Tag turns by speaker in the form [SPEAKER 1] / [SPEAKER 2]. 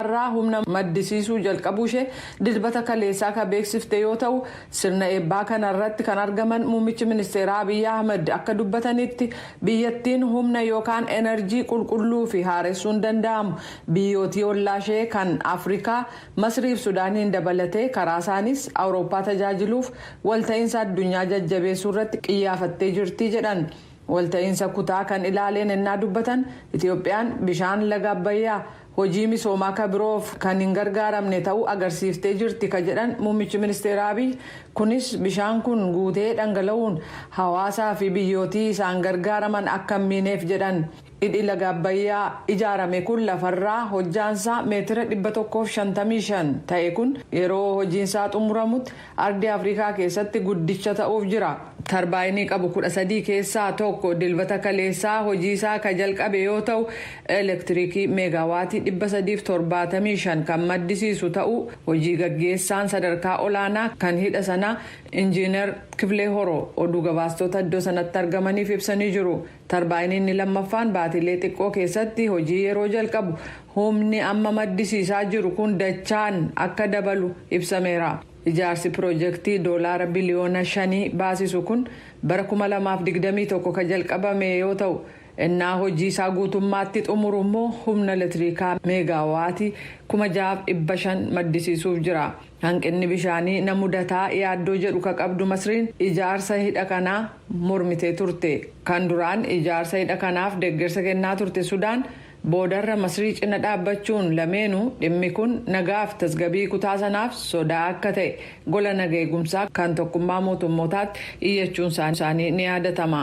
[SPEAKER 1] irraa humna maddisiisuu jalqabuu ishee Dilbata kaleessaa ka beeksifte yoo ta'u, sirna eebbaa kana irratti kan argaman muummichi ministeeraa Abiy Ahimad akka dubbatanitti biyyattiin humna yookaan enerjii qulqulluu fi haaressuun danda'amu biyyootii ollaa ishee kan Afrikaa Masrii fi Sudaaniin dabalatee karaa isaaniis Awurooppaa tajaajiluuf walta'iinsa addunyaa jajjabeessuu irratti qiyyaafattee jirti jedhan. Walta'iinsa kutaa kan ilaaleen ennaa dubbatan Itiyoophiyaan bishaan laga Abbayyaa hojii misoomaa ka biroof kan hin gargaaramne ta'uu agarsiiftee jirti ka jedhan muummichi ministeeraa Abiy, kunis bishaan kun guutee dhangala'uun hawaasaa fi biyyootii isaan gargaaraman akka hin miineef jedhan. Hidhi laga Abbayyaa ijaarame kun lafarraa hojjaansaa meetira 155 ta'e kun yeroo hojiinsaa xumuramutti Ardii Afrikaa keessatti guddicha ta'uuf jira. Tarbaayinii qabu 13 keessaa tokko Dilbata kaleessaa hojii isaa ka jalqabe yoo ta'u, elektirikii meegaawaatii 375 kan maddisiisu ta'uu hojii gaggeessaan sadarkaa olaanaa kan hidha sanaa Injiinar Kiflee Horoo oduu gabaastota iddoo sanatti argamaniif ibsanii jiru. Tarbaayiniin inni lammaffaan baatiilee xiqqoo keessatti hojii yeroo jalqabu humni amma maddisiisaa jiru kun dachaan akka dabalu ibsameera. Ijaarsi piroojektii doolaara biliyoona shanii baasisu kun bara 2021 ka jalqabame yoo ta'u, ennaa hojii isaa guutummaatti xumuru immoo humna elektiriikaa meegaawaatii 6,500 maddisiisuuf jira. Hanqinni bishaanii na mudata yaaddoo jedhu ka qabdu Masriin ijaarsa hidha kanaa mormitee turte. Kan duraan ijaarsa hidha kanaaf deggersa kennaa turte Sudaan boodarra Masrii cina dhaabbachuun lameenu dhimmi kun nagaaf tasgabii kutaa sanaaf sodaa akka ta'e gola naga eegumsaa kan Tokkummaa Mootummootaatti iyyachuun isaanii ni yaadatama.